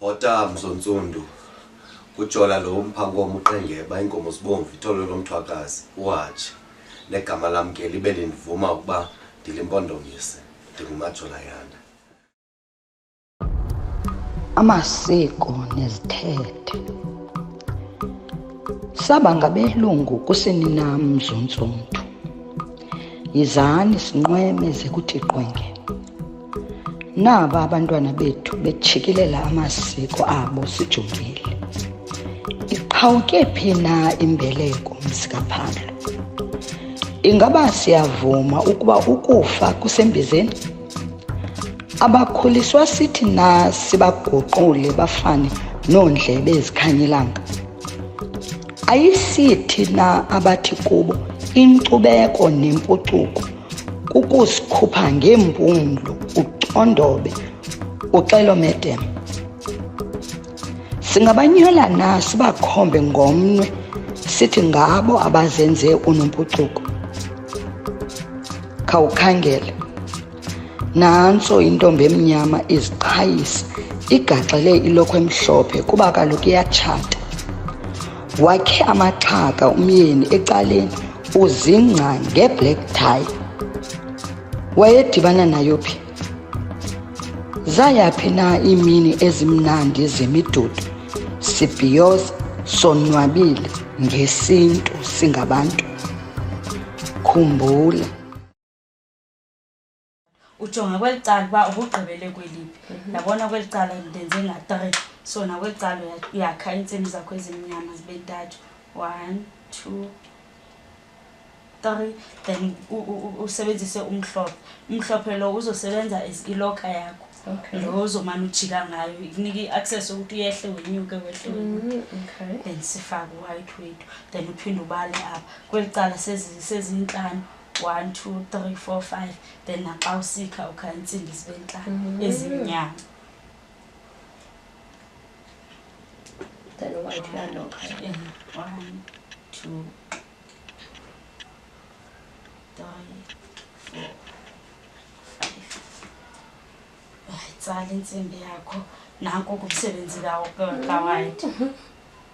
otamzo ntsundu kujola lo mphankomo uqengeba iinkomo zibomvu ithole lomthwakazi uhatshe negama lam ke libe lindivuma ukuba ndilimpondomise ndingumajola yanda amasiko nezithethe saba ngabelungu kuseninam zontsundu yizani sinqweme ze kuthi qwenge naba abantwana bethu betshikilela amasiko abo sijongile iqhawuke phi na imbeleko mzikaphando ingaba siyavuma ukuba ukufa kusembizeni abakhuliswa sithi na sibaguqule bafane noondlebe ezikhanyelanga Ayisithi na abathi kubo inkcubeko nempucuko kukusikhupha ngeempumlo ucondobe uxelomedem singabanyola na sibakhombe ngomnwe sithi ngabo abazenze unompucuko khawukhangele Nantso intombi emnyama iziqhayisa igaxele ilokhwe emhlophe kuba kaloku iyatshata. Wakhe amaxhaka umyeni ecaleni uzingca ngeblack tie. Wayedibana nayo phi? Zayaphi na iimini ezimnandi zemidudu sibhiyoza sonwabile ngesintu singabantu? Khumbula ujonga kweli cala uba ubugqibele kweliphi mhm. ndabona kweli cala ndenze nga-three so nakweli cala uyakha iintsimi zakho ezimnyama zibe ntathu one two three then usebenzise umhlophe umhlophe lo uzosebenza as iloka yakho lo uzomane ujika ngayo ikunika i-access ukuthi uyehle wenyuke wehle mhm, then sifake u-white wethu then uphinde ubale apha kweli cala sezintlanu one two three four five then naxa usikha ukha intsimbi zibe ntlanu mm-hmm. ezimnyama one two tsala intsimbi yakho nanko kumsebenzi kawayiti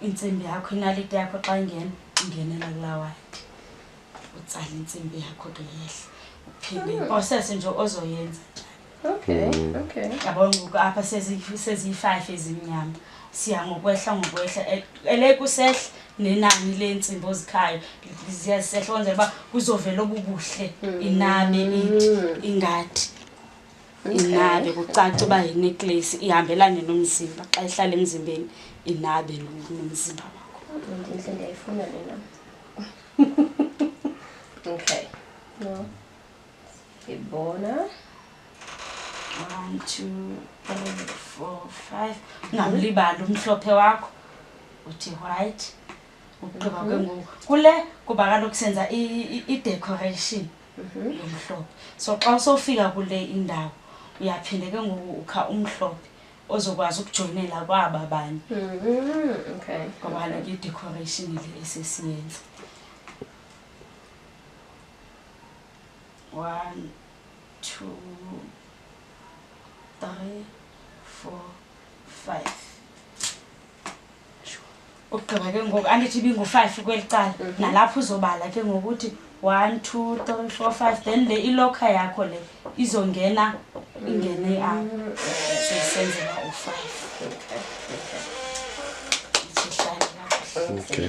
intsimbi yakho inaliti yakho xa ingena ingenela kulawayiti utsala intsimbi yakho ke yehla uphinde hmm. iprocess nje ozoyenza okay hmm. okay yabo ngoku apha seziyi-five ezimnyama siya ngokwehla ngokwehla e-, elekusehla nenani leentsimbi ozikhayo ziyazisehla kwenzela uba kuzovela obubuhle hmm. inabe ingathi inabe kucaca uba yineclace ihambelane nomzimba xa ihlala emzimbeni inabe nomzimba wakho ndiyifuna lena ok no. è buona 1 2 3 4 5 ungamlibali umhlophe wakho uthi white ukugqiba mhm. kwenguku kule kuba kaloku senza idecoration mhm. yomhlophe so xa usofika kule indawo uyaphinde ke ngoku ukha umhlophe ozokwazi ukujoyinela kwaba banye mm-hmm. okay ngoba like i-decoration le esesiyenza one two three four five ugqiba ke ngoku andithi ibingu-five kweli cala mhm. nalapho uzobala ke ngokuthi one two three four five then le ilokha yakho le izongena ingene iapho mm. seyisenzela u-five Okay.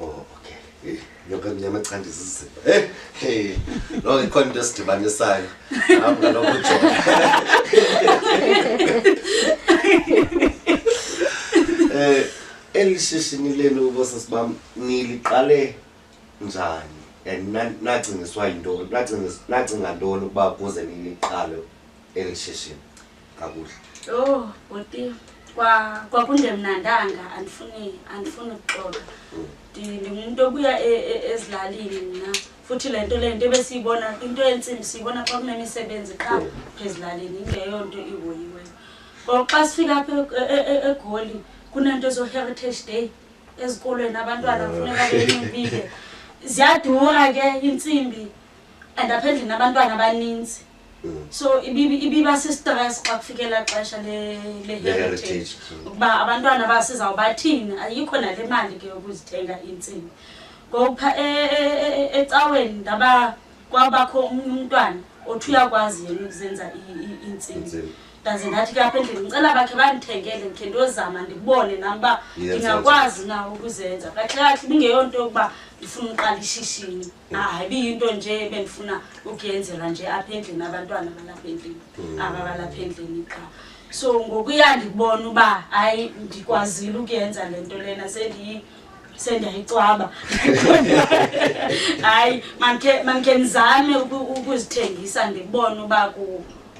Oh, okay. Eh, yonke emnyama xa ndizizima. Eh, hey. Lo ikhona into esidibanisayo. Hawu ngalokho uJola. Eh, elishishini lenu bosisi bam niliqale njani? And na- nacingiswa yintoni? Nacingiswa nacinga ntoni ukuba kuze niliqale elishishini? kakuhle yho bhuti kwakungemnandanga andifuni andifuni ukuxoka mm. ndingumntu obuya e, e, ezilalini mna futhi le nto le nto ebesiyibona into yentsimbi siyibona xa kunemisebenzi qha mm. phezilalini into yeyo nto ihoyiweyo ngoku xa sifika apha e, egoli kunento ezoheritage day ezikolweni abantwana kufuneka benximbile ziyadura ke intsimbi and apha endlini abantwana abaninzi so ibiba sistress xa kufikela xesha leheritage ukuba abantwana basizawubathini ayikho nale mali ke yokuzithenga iintsimbi ngokupha e, e, e, ecaweni ndaba kwabakho omnye umntwana othi uyakwazi yena ukuzenza iintsimbi ndaze ndathi ke apha endlini ndicela bakhe bandithengele ndikhe ndiyozama ndibone nam uba ndingakwazi na ukuzenza kahle kahle ibingeyonto yokuba ndifuna uqala ishishini hayi biyinto nje ebendifuna ukuyenzelwa nje apha endlini abantwana balapha endlini mm. aba balapha endlini qha so ngokuya ndibona uba hayi ndikwazile ukuyenza le nto lena sendiyi sendiyayicwaba hayi mandikhe ndizame ukuzithengisa ndibone uba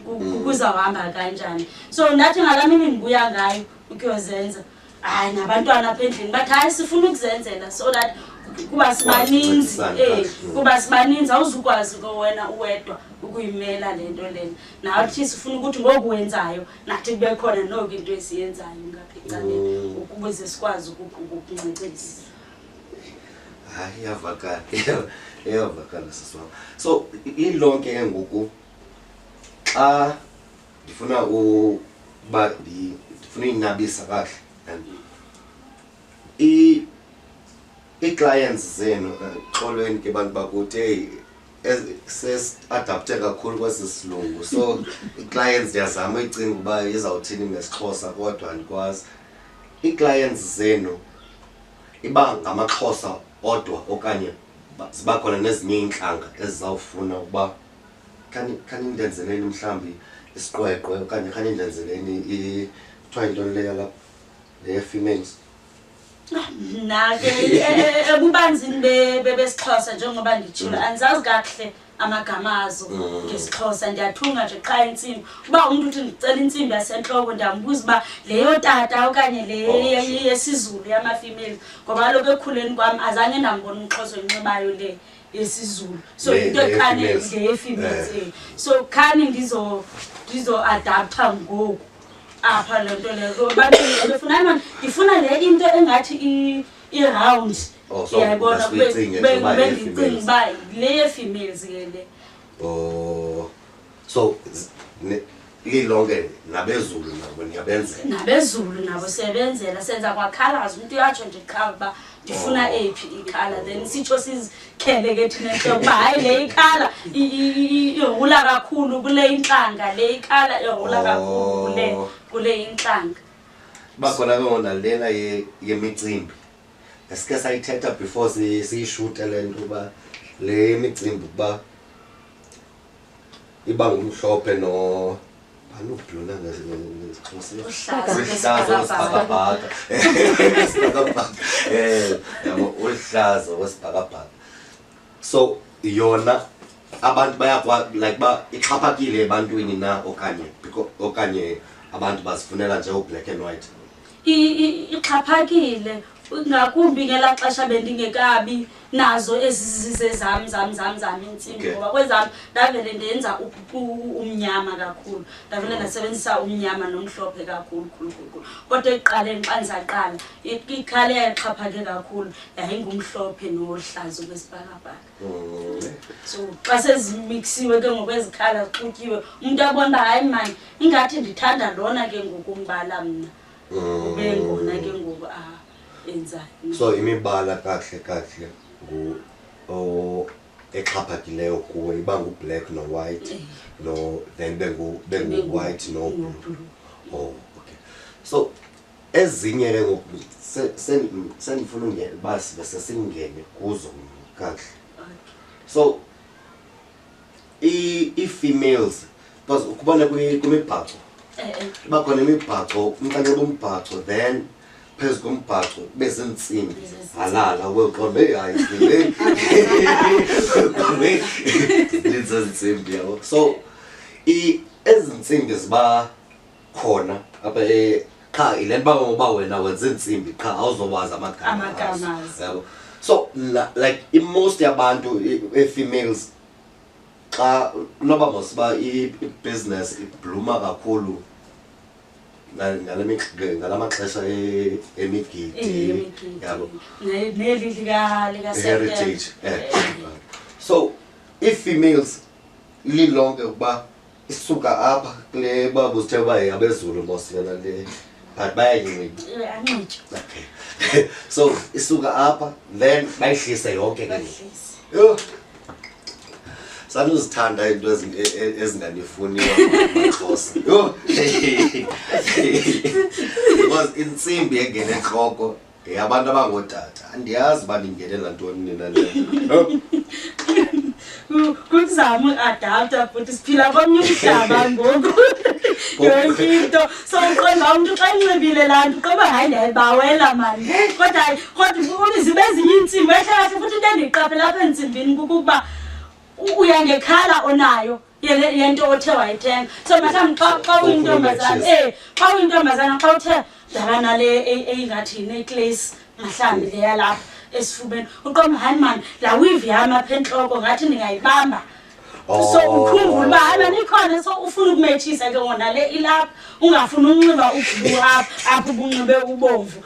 mm. kuzawuhamba kanjani so ndathi ngalaa mini ndibuya ngayo ukuyozenza hayi nabantwana apha endlini bathi hayi sifuna ukuzenzela so that kuba sibaninzi eh kuba sibaninzi awuzukwazi ke wena uwedwa ukuyimela le nto lena nathi sifuna ukuthi ngoku wenzayo nathi kube khona noku into esiyenzayo ngapha ecaleni mm. ukuze sikwazi ukukuncecisa hayi iyavakala iyavakala sisi wam so ilonke ke ngoku xa ndifuna uba ndifuna uyinabisa kakuhle and ii-clients zenu eh, xolweni ke bantu bakuthi eyi sesiadapte kakhulu kwesi silungu so ii-clients ndiyazama uyicinga uba izawuthini ngesixhosa kodwa andikwazi ii-clients zenu iba ngamaxhosa odwa okanye ziba khona nezinye iintlanga ezizawufuna ukuba khani khani ndenzeleni mhlawumbi isiqweqwe okanye khani ndenzeleni i- kuthiwa yintoni leyo lapha neye-females mna ke e- e- ebubanzini be- be- besixhosa njengoba nditshilo Mm. andizazi kakuhle amagama azo Mm. ngesixhosa ndiyathunga nje qha intsimbi uba umntu uthi ndicela intsimbi yasentloko ndiyambuza uba leyo tata okanye le Oh, ye- sure. yesizulu yamafemeli ngoba kaloku ekhuleni kwam azange ndambona umxhosa oyinxibayo le yesizulu so Le- into ekhane ngeyefemales. ngeyefemales Eh. eh. so khani ndizo ndizoadaptha ngoku apha le nto leyo So, abantu befuna imana ndifuna le into engathi i- i-round Oh, so yayibona that's kube- uyicinge kube- into uba kube yefemales. ndicinga uba le yefemales ke le Oh, so lilonke nabezulu nabo niyabenzela nabezulu nabo siyabenzela senza kwakhalaza umntu uyatsho nje qha uba ndifuna oh. eyiphi ikhala then sitsho sizikhele ke thina nto ukuba hayi le ikhala ihula kakhulu kule intlanga le ikhala ihula kakhulu kule oh. kule intlanga bakhona ke ngona lena yemicimbi esike sayithetha before siyishute le nto uba le micimbi ukuba iba ngumhlophe no anobhlona ngesikhosisihlaza wesibhakabhaka sibhakabhaka eh, um uhlaza wesibhakabhaka so yona abantu bayakwa like ba ixhaphakile ebantwini na okanye okanye abantu bazifunela nje ublack and white ixhaphakile ngakumbi ngelaa xesha bendingekabi nazo ezizize zam zam zam zam intsimbi ngoba kwezam ndavele ndenza umnyama kakhulu ndavele ndasebenzisa umnyama nomhlophe kakhulu khulukhulu kodwa ekuqaleni xa ndizaqala ikhale yayixhaphake kakhulu yayingumhlophe nohlazo kwesibhakabhaka so xa sezimixiwe ke ngokwezikhala zixutyiwe umntu abona uba hayi mani ingathi ndithanda lona ke ngoku umbala mna ube ngona ke ngoku a ah, enzayo so imibala kakuhle kakuhle ngu exhaphakileyo kuwe iba ngublack nowhite eh. no then bengu-white noblue oh okay so ezinye ke ngoku se- se- sendifuna ungena uba sibe sesingene kuzo kakuhle so i- ii-females because ukubona kwi- kwimibhaco iba khona imibhaco umnkanxeba umbhaco then phezu kombhaco kube ziintsimbi halala weqonda eyi hayi zilezintsimbi yabo so i- ezi ntsimbi ziba khona apha eh, qha yile nto uba uba wena wenza iintsimbi qha awuzowazi amagama Amagama azo. azo. Yabo? so la- like imost yabantu i- ee-females xa noba mosiba i- i-business ibluma kakhulu nga- ngale mix- ngala maxesha e- emigidi yabo neli lika lika heritage eh. so ii-females lilonke ukuba isuka apha kule baba uzithe uba abezulu bosiyana le but bayanyincitha eh, so isuka apha then bayihlise yonke ke yho sanuzithanda iinto e, e, ezinganifuniyo maxhosa yho because intsimbi engene entloko Hey abantu abangootata andiyazi uba ndingenela ntoni nina le kuzama uadapta futhi siphila komnye umhlaba ngoku yonke into so uqonda umntu xa inxibile laa nto qoba hayi ndiyayibawela mani kodwa kodwa uliziba ezinye iintsimbi ehlahle futhi into endiyiqaphela apha entsimbini kukuba uyangekhala onayo yento othe wayithenga so mhlawumbi xa xa uyintombazana eh xa uyintombazana xa uthe dlala nale e- eyingathi neclace mhlawumbi leya lapha esifubeni uqoma hayi mani laa wivi yam apha entloko ngathi ndingayibamba so oh. ukhumbula uba hayi mani ikhona so ufuna ukumetshisa ke ngona le ilapha ungafuni unxiba ubhlu apha apha ubunxibe ubomvu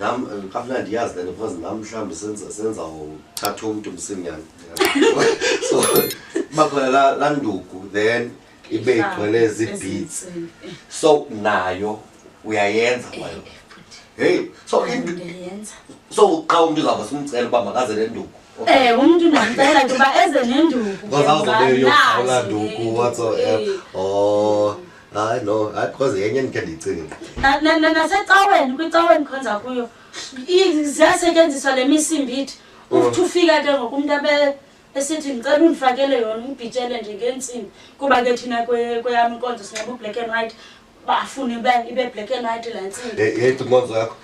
nam eh, kamnandi ndiyazi le nto because nam mhlawumbi senza senza uthatha umntu msinyana so bakhona la- laa nduku then ibe igcwele zii-beats so nayo uyayenza kwayo heyi so into- ndiyenza so xa umntu uzawuba simcela uba makaze le nduku Eh umuntu ndamcela nje uba eze nenduku. because awuzobe uyogawula nduku whatsoever oh hayi no hayi because yenye endikhe ndiyicinge Na- na- na- nasecaweni kwicaweni khonza kuyo i- ziyasetyenziswa le misimbithi uthi ufika ke ngoku umntu abe esithi ndicela undifakele yona undibhitshele nje ngentsimbi kuba ke thina kwe- kweyam inkonzo sinxiba ublack and white bafune ibe ibe black and white laa ntsimbi yeyi inkonzo yakho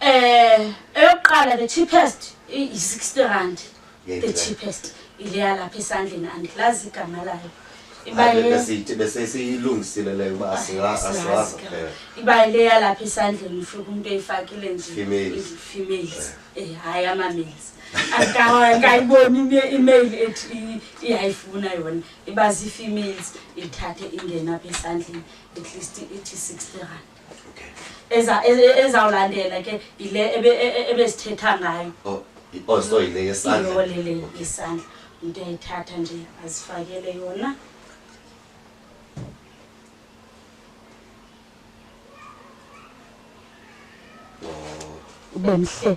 Eh, eyokuqala the cheapest yi-60 rand. Yeyiphi The le? cheapest ile yalapha esandleni andilazi igama layo. Iba Hayi, ye- besiyithi- besesiyilungisile leyo uba asiwa- asiwazi asiwazi ke. kuphela. iba le yalapha esandleni ufika umntu eyifakile nje Females. females Eh, hayi ama-males Aka- akayiboni ime- email ethi i- iyayifuna yona iba zii-females ithathe ingena apha esandleni at least ithi 60 rand eza- e- e- ezawulandela ke yile ebe- e- e- ebesithetha ngayo Oh, i- oh, so yile yesandla. iyole le Okay. isandla umntu uyayithatha nje azifakele yona Oh. ube mhle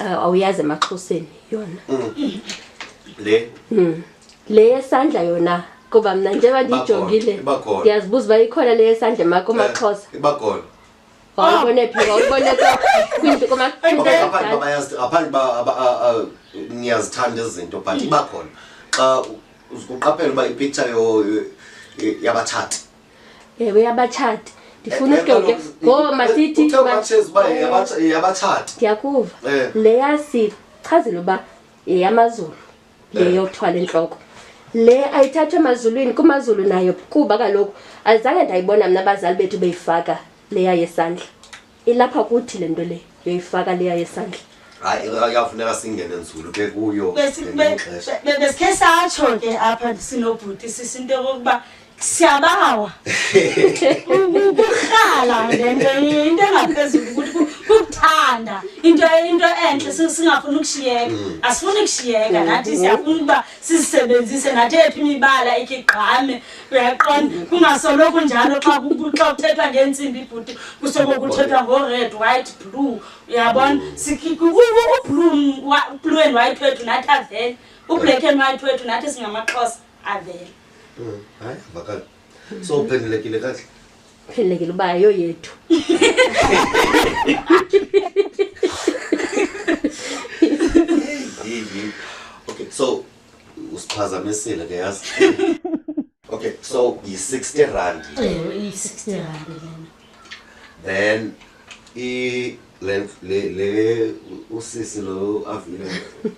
Ah, awuyazi emaxhoseni yona le le yesandla yona kuba mna njengoba ndiyijongile Iba khona. ndiyazibuza uba ikhona le yesandla emakho amaxhosa Eh, iba khona wawubone phi wawubone kwa- kwinto koma- kwinto Ngoba ngaphandle uba yakudala. bayazi- ngaphandle uba aba- a- a- niyazithanda ezi zinto but iba khona xa u- uqaphela uba ipicture yo- yo- yabatshati ewe yabatshati ndifuna eh, eh, uke ngoba masithi yabatshati ndiyakuva eh. leya sichazile uba yeyamazulu leyo kuthwala entloko le ayithathwe emazulwini kumazulu nayo kuba kaloku azange ndayibona mna abazali bethu beyifaka leya yesandla ilapha kuthi le nto le yoyifaka leya yesandla hayi yafuneka singene nzulu ke kuyo besikhe satsho ke apha sinobhuti sisi into yokokuba siyabawa ukurhala le nto into engaphezulu ukuthi kukuthanda into into entle singafuni ukushiyeka mm. asifuni ukushiyeka nathi siyafuna ukuba sizisebenzise nathi ephi imibala ikhe igqame uyaqonda kungasoloko njalo xa xa uthethwa ngeentsimbi ibhuti kusoko kuthethwa ngo-red white blue uyabona ublue and white wethu nathi avele ublack and white wethu nathi singamaxhosa avele mm, hayi avakala so uphendulekile kahle phelelekile uba yo yethu okay so usiphazamisile ke yazi okay so yi-60 rand ewe iyi-60 rand lena then i le le le usisi lo avile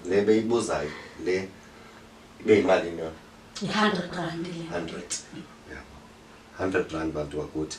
le beyibuzayo le ibe yimalini yona yi-hundred rand lena 100 100 rand bantu wakuthi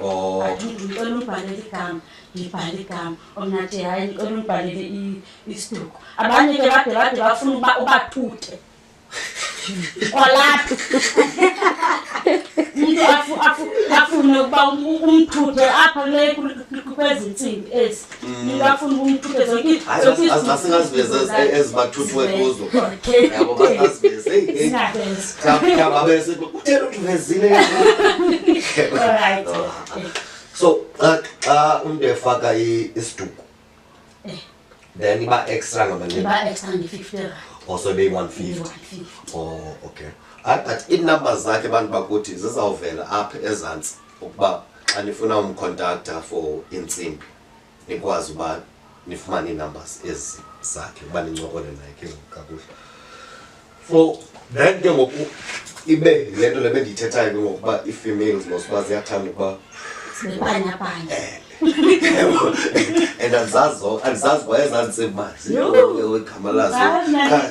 Oh. Ngicela ungibhalele igama, ngibhale igama. Omnathi hayi ngicela ungibhalele isiduko. Abanye ke bade bade bafuna uba ubathuthe. Kwalapha. Umuntu afune ukuba umthuthe apha kule kwezi ntsimbi ezi. ningafuni umthuthe zonke asingaziveze ezibathuthiwe kuzo yabo basaziveze kuthela ukuthi uvezile so xa umntu efaka isiduko eh. then iba extra ngamanenioso beyi-150 o okay but iinumber zakhe abantu bakuthi zizawuvela apha ezantsi ukuba xa nifuna umkhontaktha for intsimbi nikwazi uba nifumane ii-numbers ezi zakhe uba nincokole naye ke ngoku kakuhle for then ke ngoku ibe le nto le bendiyithethayo ke ngokuba ii-females mos uba ziyathanda ukuba Sibanyabanya. and andizazi andizazi uba ezantsimbi uba Yho. zigama lazo Zazi, Cha,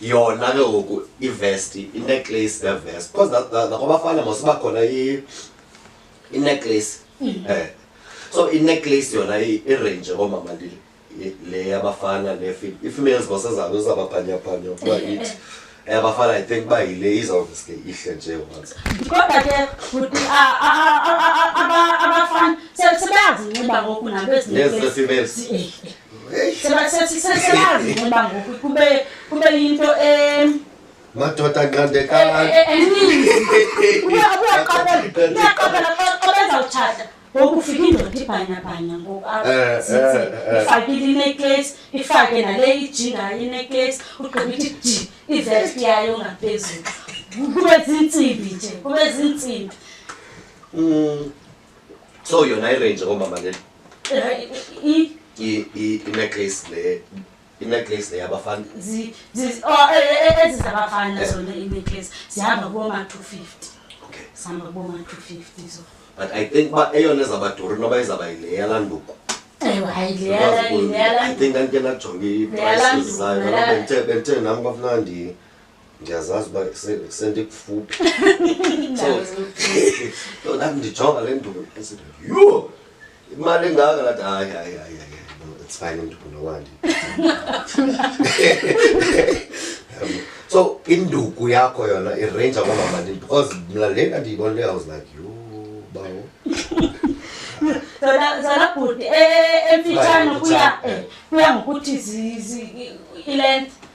yona ke ngoku ivesti ineclace nevest because nakwabafana masiba khona ineclace um mm. eh. so ineclace yona irange koomama ndile le yabafana i-females bosezabo izababhanyaphanya ukuba ithi yabafana i think uba yile izawuveske ihle nje once kodwa ke futhi abafana sebeyazinxiba ngoku nabo ezinezifemales sebazi uba ngoku kube kube yinto em madoda nqandekani eninzi uyaqabela xa bezawutshata ngoku ufika indoda ibhanyabhanya ngoku apha eh, eh, eh. ifakile ineclase ifake nale ijingayo ineclase ugqiba ithi ji ivest yayo ngaphezulu kube zintsimbi nje kube zintsimbi mm. so yona irange ngomama le ineclace le ineclace le yabafana ezizabafana zona ineclace zihamba kuboma-two fifty okay zihamba kuboma-two fifty so but i think uba eyona ezabaduri noba izaba yile yalanduku i think ndandike ndajonga iprices zayo bendithe nam kwafuneka ndiye ndiyazazi uba se- sendikufuphi so so nam ndijonga le nduku esithi yho imali engaka lathi hayi hayi hayi hayi no, it's fine induku nowandi Yabo. so induku yakho yona irenja kwamamalini because mna lena ndiyibonile i was like yho bawo zona zona bhuti eh, emfitshane kuya eh, kuya ngokuthi zi- zi- i-length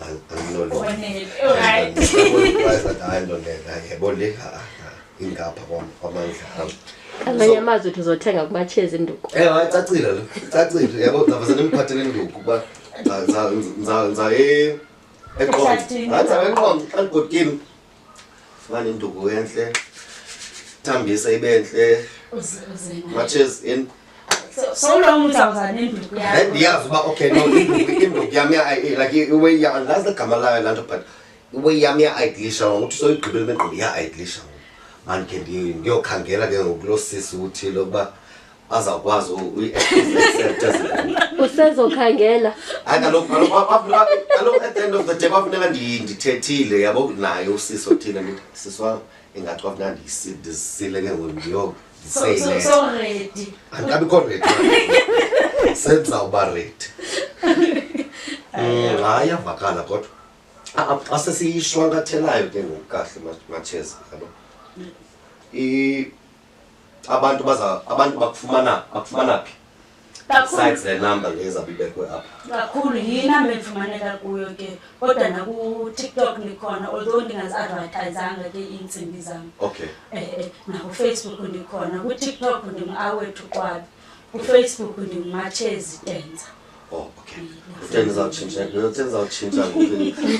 Ang, ang lolo. One minute. Alright. Yaboleka ingapha kwamandla am. Amanye amazwi uthi uzothenga kumatshezi induku. Eh hayi cacile lo. Cacile yabo ndaba senimphathele induku kuba nza nza nza e eqongo. Nza eqongo xa ndigodkile. fumane induku entle thambise ibe ntle matches in ndiyazi uba okay no induku yam like iway yam andazi legama layo laa nto but iway yam iya-idlisha ngoku uthi soyigqibele imegqobo iya-idlisha ngoku mandikhe ndiyokhangela ke ngoku loo sisi uthile ukuba bazawukwazi usezokhangela hayi kaloku kaloku at the end of the day kwafuneka ndithethile yabo naye usisi othile ndithi sisi wam ingathi kwafuneka ndizisile ke ngoku ndiyo ndiseyiledi andikabikho redi senza uba redi mm, hayi yavakala kodwa ah, ah, xa sesiyishwankathelayo ke ngoku kahle matsheza kaloku abantu baza abantu bakufumana bakufumana phi besides the number leza bibekwe apha kakhulu yinamba endifumaneka kuyo ke kodwa nakutiktok ndikhona although ndingazi-advertisanga ke iintsimbi zam okay eh, eh, nakufacebook ndikhona kutiktok ndinguawethu kwabi ufacebook ndimatshezi tenza Oh, okay. Utenza utshintsha, utenza utshintsha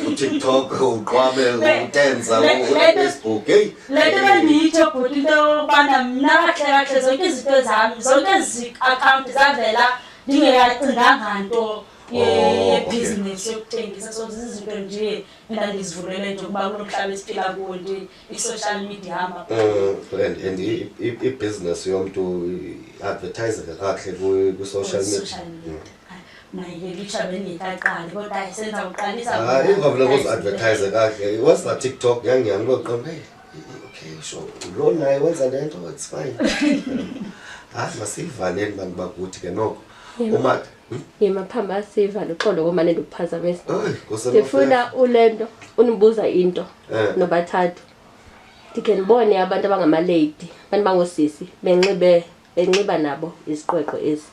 kuTikTok, uqwabe, utenza uFacebook. Hey. Lento bendiyitho bhuti into yobana mna kahle kahle zonke izinto zami, zonke ezi account zavela ndingeyacinganga nto yebhizinesi oh, yokutengisa so zizinto nje endandizivulele nje ukuba kulo mhlaba esiphila kuwo nje i-social media ihamba Mm, and and i- i- ibhizinesi yomntu iadvertiseka kakuhle kwi- kwi-social media social media mna yelitsha bendingekaqali kodwa hayi senza uqalisa Ah, ingavula kuzi-advertise kakuhle once na tiktok yangihamba ngoqonda hey okay so lo naye wenza le nto it's fine hayi masiyivaneni bantu bakuthi ke noko umata yemaphamba siva luxolo komane ndikuphazamisa ndifuna ule nto unibuza into eh. nobathathu ndikhe ndibone abantu abangamaleyidi abantu bangoosisi benxibe benxiba nabo iziqweqwe ezi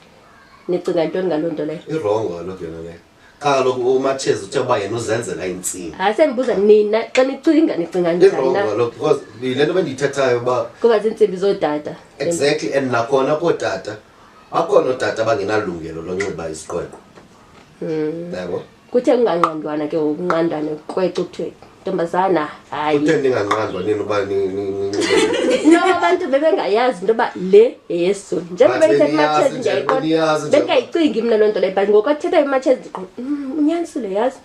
nicinga ntoni ngaloo nto leyo irongo kaloku yona leyo qha kaloku umatshezi uthe uba yena uzenzela intsini hayi sendibuza nina xa nicinga nicinga njaniirongo kaloku because yile nto bendiyithethayo uba kuba ziintsimbi zootata exactly and nakhona kootata bakhona ootata abangenalungelo lonxiba isiqweqo hmm. yabo kuthe kunganqandwana ke ngokunqandwane kweqo kuthiwe ntombazana hayi kuthe ndinganqandwa nini uba no abantu bebengayazi into yoba le yeyesizulu njengoba ithetha imatshezi ndiyayiqona bengayicingi mna loo nto leyo but ngoku athetha imatshezi ndiqo mm, unyanisile yazi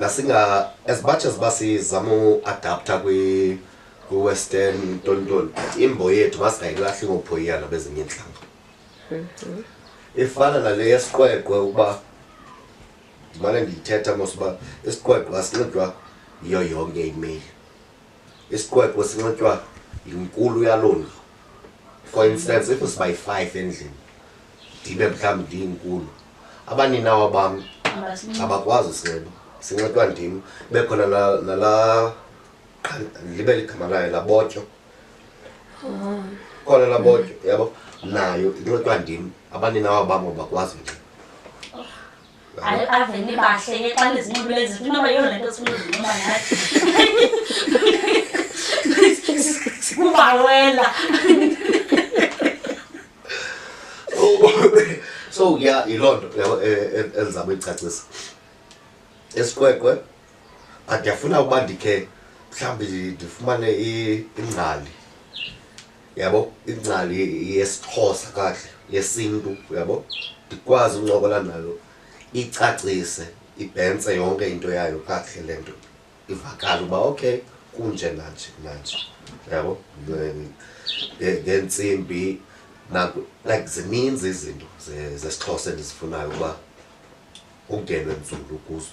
nasinga as much as basizama uadapta kwi kwi-western ntontoni but imbo yethu masingayilahli ngophoyiyana bezinye iintlanga mhm. ifana nale yesiqweqwe ukuba ndimane ndiyithetha mos uba isiqweqwe asinxidwa yiyo yonke imeyili isiqweqwe sinxitywa yinkulu yaloo ndlu for instance if siba yi-five endlini ndibe mhlawumbi ndiyinkulu abaninawa bam abakwazi usinxiba sinxitywa ndim kube khona nala libe ligama layo labotyo oh. khona labotyo yabo nayo inxitywa ndim abaninawa bam abakwazi unxiba avele bahleke xa ndizinqibile zinto inoba yiyo le nto sifuna uzinqoba nathi kubawela so ya yiloo nto yabo e- e- endizama uyicacisa esikwekwe but ndiyafuna ukuba ndikhe mhlawumbi ndifumane ingcali yabo ingcali yesixhosa kahle yesintu yabo ndikwazi uncokola nayo icacise ibhentse yonke into yayo kakuhle le nto ivakala uba okay kunje nanje nanje yabo ngentsimbi like zininzi izinto zesixhosa endizifunayo uba ungenwe nzulu kuzo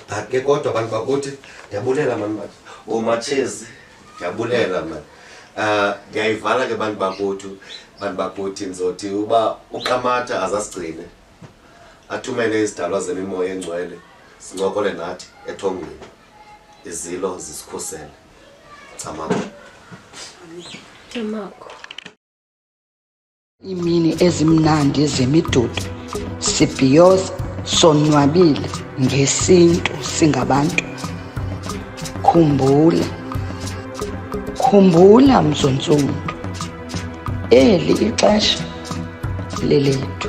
but ke kodwa abantu bakuthi ndiyabulela mani bathi oomatshezi ndiyabulela mani um ndiyayivala ke bantu bakuthi bantu bakuthi ndizothi uba uqamatha azasigcine athumele izidalwa zemimoya engcwele sincokole nathi ethongweni izilo zisikhusele camama Thank you. iimini ezimnandi zemidudu sibhiyoza sonwabile ngesintu singabantu khumbula khumbula mzontsundu eli ixesha lelethu